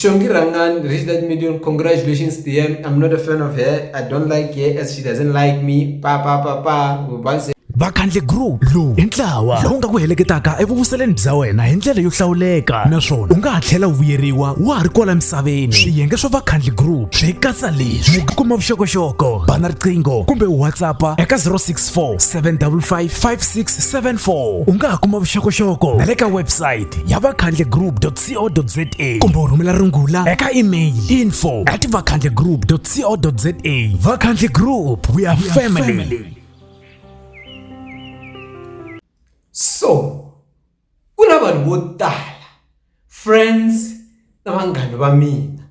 Chongi Rangan reached that million. Congratulations, TM. I'm not a fan of her. I don't like her as she doesn't like me. Pa pa pa pa. Once vakhandle group lowu hi ntlawa lowu nga ku heleketaka evuvuseleni bya wena hi ndlela yo hlawuleka naswona u nga ha tlhela u vuyeriwa wa ha ri kwala misaveni swiyenge swa vakhandle group swi katsa leswi ku kuma vuxokoxoko bana riqingho kumbe whatsappa eka 064 755 5674 u nga ha kuma vuxokoxoko na le ka website ya vakhandle group vakhandlegroup.co.za kumbe u rhumela rungula eka email info at vakhandlegroup.co.za vakhandle group we are family so ku na vanhu vo tala friends na vanghana va mina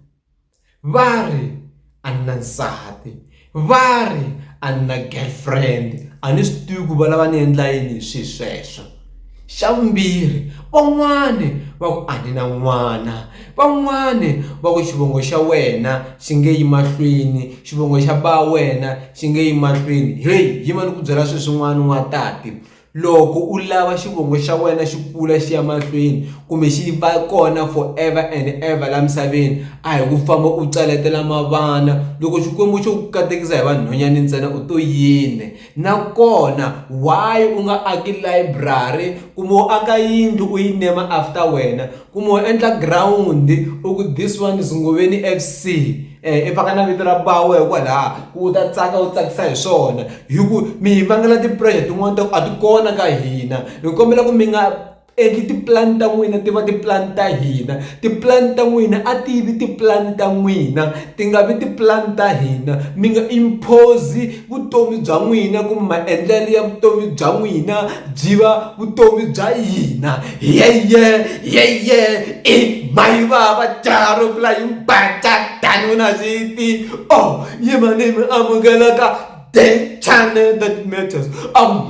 va ri a ni na nsati va ri a ni na girlfriend a ni swi tivi ku va lava ni endla yini hi swilo sweswo xa vumbirhi van'wani va ku a ni na n'wana van'wani va ku xivongo xa wena xi nge yi mahlweni xivongo xa ba wena xi nge yi mahlweni heyi yima ni ku byela sweswin'wana n'wansati. Loko u lava xivongo xa wena xi kula xi ya mahlweni kumbe xi va kona for ever and ever laha misaveni a hi ku famba u caletela mavana loko Xikwembu xo ku katekisa hi vanhwanyani ntsena u to yini nakona why u nga aki layiburari kumbe u aka yindlu u yi nema after wena kumbe u endla girawundi u ku this one is Ngoveni F_C. I faka na vito ra bawe hikwalaho ku u ta tsaka u tsakisa hi swona hi ku mi hi vangela ti-pressure tin'wani ta ku a ti kona ka hina hi kombela ku mi nga endli tipulani ta n'wina ti va tipulani ta hina tipulani ta n'wina a ti vi tipulani ta n'wina ti nga vi tipulani ta hina mi nga impose. Vutomi bya n'wina kumbe maendlelo ya vutomi bya n'wina byi va vutomi bya hina yeye yeye i mhani vava jaha ro vula hi mbhaca than u na xivindzi or yimani mi amukeleka then channel that matters ahh .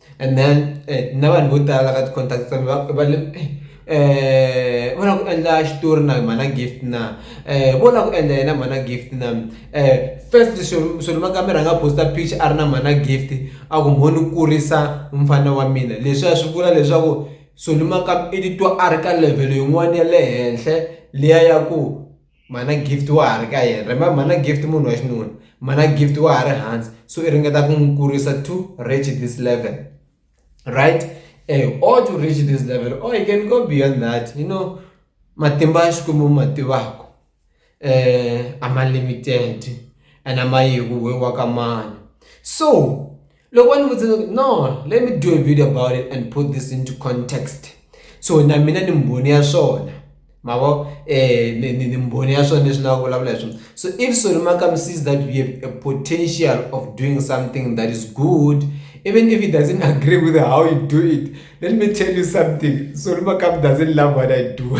And then eh, na vanhu vo tala ka ti-contact ta va va le eh, eh va lava ku endla xitori na mhana gift na eh vo lava ku endla yena mhana gift na eh first solomon kambe rhanga posta picture a ri na mhana gift a ku mhoni u kurisa mfana wa mina leswi a swi vula leswaku solomon kambe i titwa a ri ka level yin'wana ya le henhla liya ya ku mhana gift wa ha ri ka yena remember mhana gift munhu wa xinuna mhana gift wa ha ri hansi so i ringeta ku n'wi kurisa to reach this level right eh, or to reach this level or you can go beyond that you know matimba ya xikwembu ma tivaka eh, a ma limited and a ma yeku we wa ka mani so loko va ni vutisa no let me do a video about it and put this into context so na mina ni mbhoni ya swona ma vo ni mbhoni ya swona leswi na vulavula hi swona so if solomakam sees that we have a potential of doing something that is good even if he doesn't agree with how you do it let me tell you something solomakam doesn't love what i do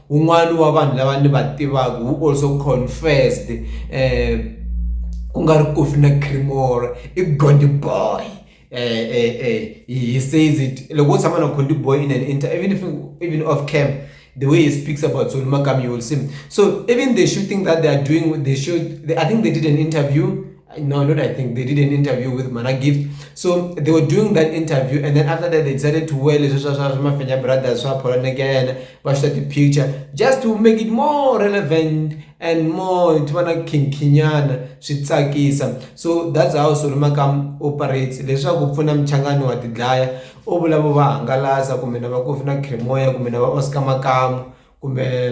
Wun'wana wa vanhu lava ni va tivaka who also confessed ku nga ri Kofi na Creemore i Gondi boy he says it loko wo tshama na Gondi boy in an inter even if even off cam the way he speaks about Zulu Makami you will see so even the shooting that they are doing with the show I think they did an interview no, not I think they did an interview with Mana Gift. So they were doing that interview, and then after that, they decided to wear this Mafenya brothers, so Poland again, watch that the picture just to make it more relevant and more to wanna kinkinyana switsakisa so that's how solomakam operates leswaku pfuna mchangano wa tidlaya u vulavo va hangalasa kumbe na va kofi na cremoya kumbe na va oscar makamu kumbe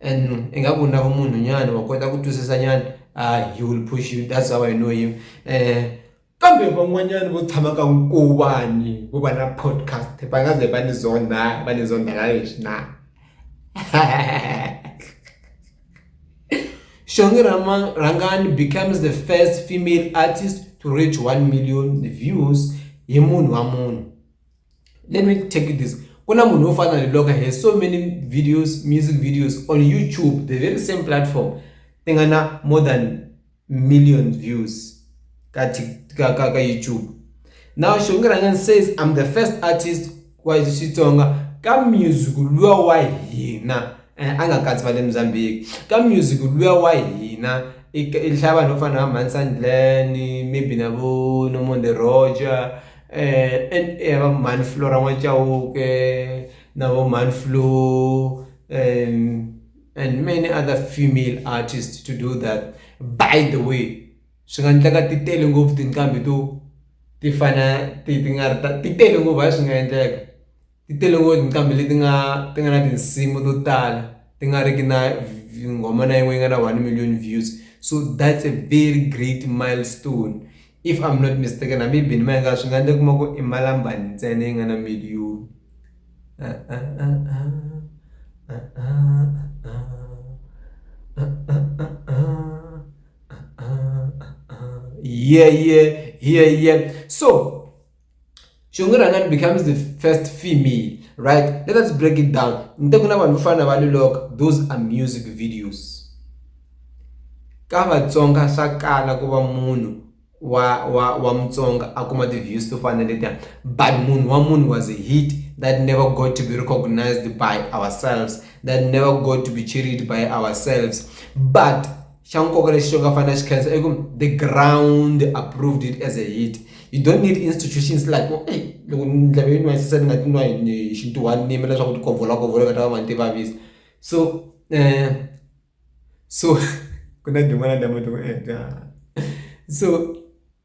And i nga ku na vumunhu nyana wa kota ku twisisa nyana hayi he will push you that's how I know him um kambe van'wanyana vo tshama ka nkuvani vo va na podcast va nga ze va ni zonda va ni zonda la leswi na Shongi Rama Rangani becomes the first female artist to reach 1 million views hi munhu wa munhu let me take you this ku na munhu wo fana ni loka he so many videos music videos on youtube the very same platform ti nga na more than million views ka ka ka, ka youtube now shongirangan says i'm the first artist wa xitsonga ka music luya wa hina eh, a nga katsi va le mozambique ka music luya wa hina i hlaya vanhu vo fana na va mansandlani maybe na vo nomon the roger eh, and eh, va mhani flora n'wachauke na vo mhani flo um, and many other female artists to do that by the way swi nga endleka ti tele ngopfu tinqambi to ti fana ti ti nga ri ta ti tele ngopfu hayi swi nga endleka Ti tele ngopfu tinqambi leti nga ti nga na tinsimu to tala ti nga ri ki na nghoma na yin'we yi nga na one million views so that's a very great milestone if I'm not mistaken hambi yi be ni mayenga swi nga endla u kuma ku i Malambalele ntsena yi nga na million yhe yhe yhe yhe so. xingirhangani becomes the first female right let us break it down ni te ku na vanhu vo fana na va loloka those are music videos ka vatsonga swa kala ku va munhu wa wa wa mutsonga a kuma ti-views to fana na letiya but munhu wa munhu was a hit that never got to be recognized by ourselves that never got to be cheeried by ourselves but xa nkoka lexi xo nga fanela xi khensa i ku the ground approved it as a hit you don't need institutions like ku eyi loko ndleve yi nwayisisa ni nga ti nwa hi xintuhani ni yimela leswaku ti kovolakovola ka ta va mani ti vavisa so um so ku na tin'wana ta muti ku so.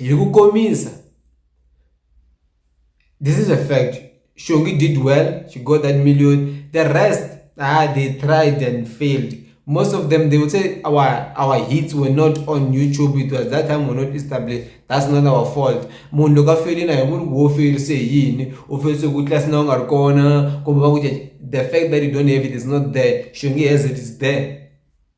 Hi ku komisa this is a fact Shongi did well she got that million the rest ah they tried and failed most of them they would say our our hits were not on YouTube it was that time we're not established that's not our fault munhu loko a felile hi vuri wo ferise yini u ferise ku tlasi na u nga ri kona kumbe va ku the fact that you don't have it is not there Shongi has it is there